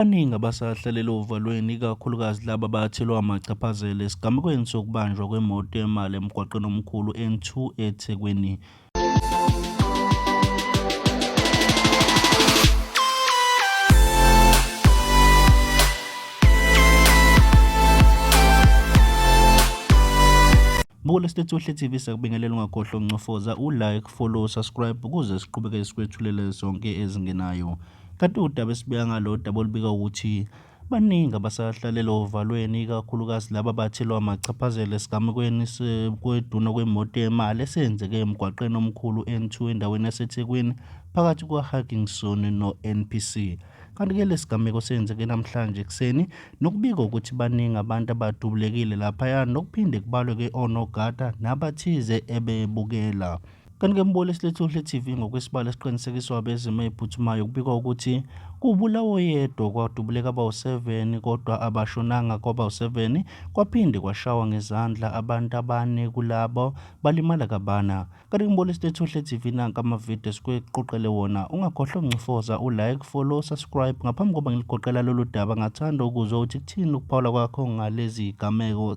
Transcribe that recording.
Abaningi abasahlalele ovalweni ikakhulukazi laba abathelwa amachaphazela esigamekweni sokubanjwa kwemoto yemali emgwaqeni omkhulu N2 eThekwini. Buka lesitethu Ohle TV sakubingelela ungakhohlwa ukuncofoza u-like, follow, subscribe ukuze siqhubeke sikwethulela zonke ezingenayo. Kanti udaba esibika ngalo daba olubika ukuthi baningi abasahlalele ovalweni ikakhulukazi laba bathelwa amachaphazelo esigamekweni kweduna kwemoto yemali esenzeke emgwaqeni omkhulu N2 endaweni yaseThekwini phakathi kwaHugginson no-NPC. Kanti-ke lesigameko senzeke namhlanje ekuseni nokubika ukuthi baningi abantu abadubulekile laphaya nokuphinde kubalwe-ke onogada nabathize ebebukela. Kanti ke mboli esilethe uhle TV ngokwesibalo esiqinisekiswa abezimo eziphuthumayo kubikwa ukuthi kubulawa oyedwa kwadubuleka abawu-7 kodwa abashonanga kwabawu-7 kwaphinde kwashawa ngezandla abantu abane kulabo balimala kabana. Kanti kumboli esilethe uhle TV nanka amavidiyo esikuqoqele wona ungakhohlwa ukuncofoza u-like, follow, subscribe ngaphambi koba ngiligoqela lolu daba ngathanda ukuzwa ukuthi kuthini ukuphawula kwakho ngalezi gameko.